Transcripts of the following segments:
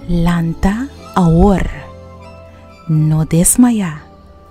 Lanta awor, no desmaya.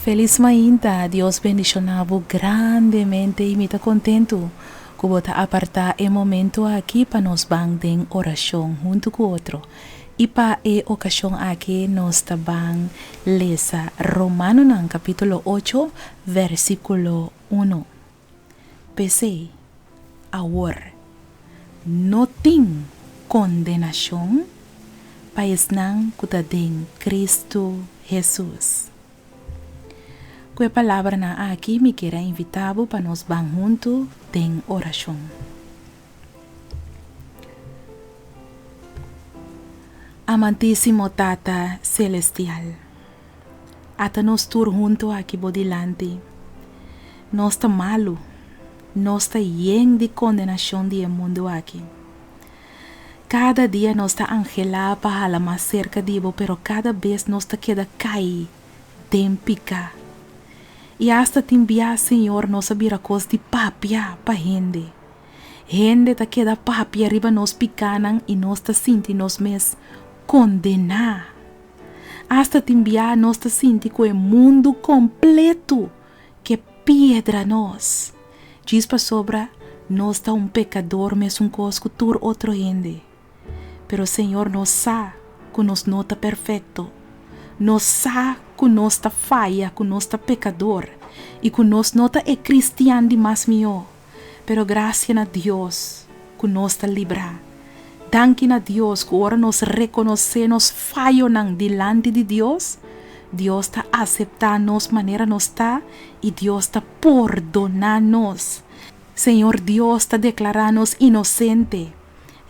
Felis mainta, Dios bendiciona bo grandemente y mi ta contento cu bo ta aparta e momento aki pa nos ban den oracion hunto cu otro. Y pa e ocasion aki nos ta ban lesa Romanonan capitulo ocho versiculo uno. P'esei, awor, no tin kondenashon pa esnan ku ta den Kristu Hesus. Ku e palabranan aki mi kier a invitá bo pa nos ban huntu den orashon. Amantísimo Tata selestial. Ata nos tur huntu aki bo dilanti. Nos ta malu, nos ta yen di kondenashon di e mundu aki. Kada dia nos ta anhelá pa hala mas serka di bo, pero kada bes nos ta keda kai den piká. I asta tin bias, Señor, nos a bira kos di papia pa hende. Hende ta keda papia riba nos pikánan i nos ta sinti nos mes kondená. Asta tin bia nos ta sinti ku e mundu kompletu ke piedra nos, djis pasobra nos ta un pekador mesunkos ku tur otro hende. Pero Señor nos sa ku nos no ta perfekto. Nos sa ku nos ta faya, ku nos ta pekador i ku nos no ta e kristian di mas mihó. pero gracia na Dios cu nos ta libra. Danki na Dios cu ora nos reconoce nos fayonan dilanti di Dios, Dios ta acepta nos manera nos ta y Dios ta pordona nos. Señor Dios ta declara nos inocente.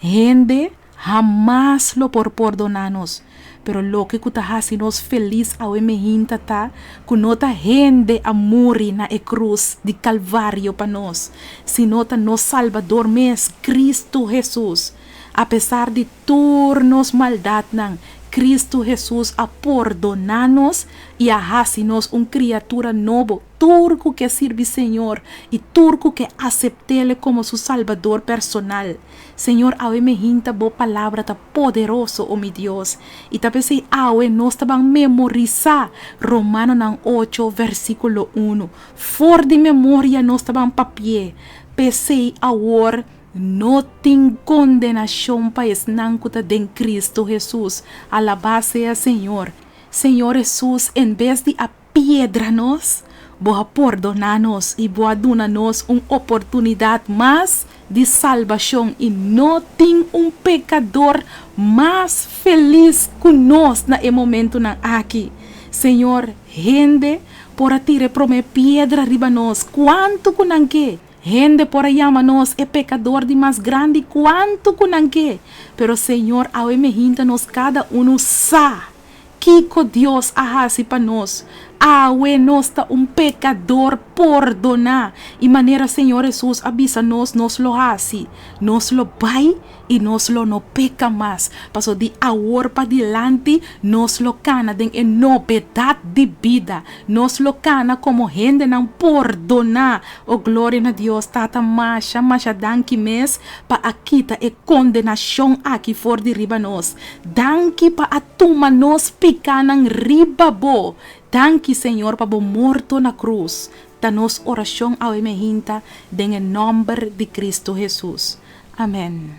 Hende. Hamas lo por pordoná nos, pero loke ku ta hasi nos felis awe mihinta ta ku no ta hende a muri na e krus di Kalvario pa nos, sino ta nos Salbador mes, Kristu Hesus. Apesar di tur nos maldatnan, Kristu Hesus a pordoná nos i a hasi nos un kriatura nobo tur ku ke sirbi Señor i tur ku ke asept'E komo su Salbador personal. Señor, awe mi hinta Bo palabra ta poderoso, o mi Dios, i ta pesey awe nos ta ban memorisá Romanonan ocho, versíkulo unu, for di memoria, nos ta ban papi'é. Pesey awor no tin kondenashon pa esnan ku ta den Kristu Hesus. Alabá sea Señor! Señor Hesus, en bes di a. piedra nos, Bo a pordoná nos i Bo a duna nos un oportunidat mas di salbashon i no tin un pekador mas felis ku nos na e momentunan aki. Señor, hende por a tira e promé piedra riba nos kuantu ku nan ke, hende por a yama nos e pekador di mas grandi kuantu ku nan ke, pero Señor, awe mi hinta nos kada unu sa. Kiko Dios a hasi pa nos awe nos ta un pekador pordoná i manera Señor Hesus a bisa nos nos lo hasi, nos lo bai i nos lo no peka mas. Paso di awor pa dilanti nos lo kana den e nobedat di bida, nos lo kana komo hendenan pordoná. O gloria na Dios Tata masha masha danki mes pa a kita e kondenashon aki for di riba nos. Danki pa a tuma nos pikánan riba bo. Danki, Señor, pa bo morto na krus. Ta nos orashon awe mehinta den e nòmber di Kristu Hesus. Amèn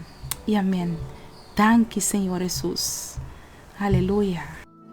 i amèn. Danki, Señor Hesus. Aleluya.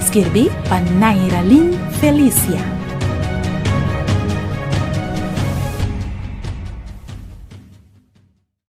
Skirbi pa Nairalin Felicia.